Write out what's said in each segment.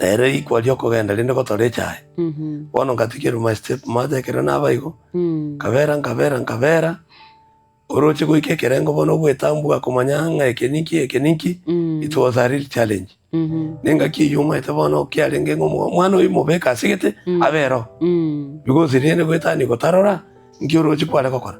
na ere rikwa ri'okogenda rinde gotora echaye. Bono nkatigia eruma ya sitipu maate ekero naba igo, nkabeera, nkabeera, nkabeera, oroche goika ekerengo bono obwetambwa komanya ng'a eke ninki, eke ninki, it was a real challenge. Na engaki eyio omanyete bono kiarenge ng'a omo- omwana oyio mobeke ase egete abe ero, because riende goetania gotarora nki oroche kware gokora.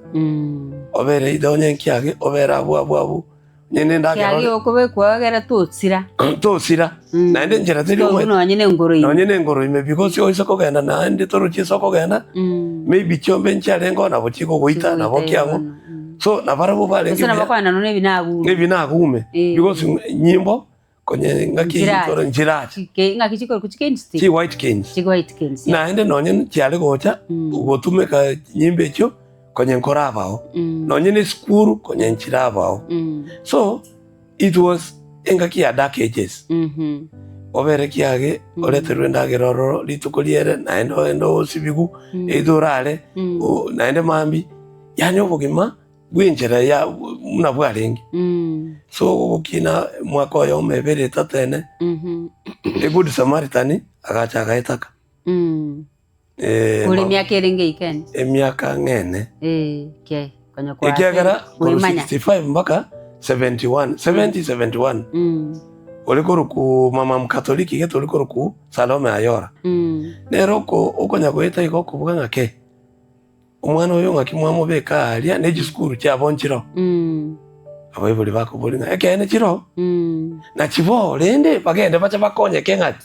Obere either onye nkiage, obere abwo abwo abwo. Kiagera okobekwa egere tosira. Tosira, naende enchera teri Tobu ogoeta. nonye nengoro ime. Nonye nengoro ime because oise kogenda naende torochi ase okogenda, Mm. maybe chiombe inche arenge oo nabo chigogoita Chigogoita nabo ki abwo. egono, mm. So, nabarabwo barenge Gose nabo buya, okogenda nonya ebinagume. ebinagume Eh. because nyimbo Konye ngaki chikoro nchiracha. Chike ngaki chikoro kuchika insti. Chi white kings. Chi white kings. Na ende nonye chiare gocha mm. ugotumeka nyimbe echo konye nkorabao. Mm. Nonye ne school konye nchirabao. Mm. So it was engaki ya dark ages. Mm -hmm. Obere kiage mm. oreterwe endagera ororo rituko riere na ende osibigu mm. eitho orare mm. na ende mambi yani obogima bw'enchera ya buna bwarenge. Ase ogokina omwaka oyomo, ebere, etato, ene, The Good Samaritan agacha agaetaka. Ore emiaka ere ngeika ene? Emiaka ng'ene. Ekiagera korwa 65 mpaka 71, 70, 71, ore korokwa Mama Mkatoliki gete ore korokwa Salome Ayora. Nere okonya goeta iga okoboka ng'a kei, Omwana oyo ng'aki mwamobeka aaria ne chisukuru chiabo nchiro? Abaibori bakoboria ng'a, Ekeene chiroo, nachiboo, rende bagende bache bakonyeke ng'aki?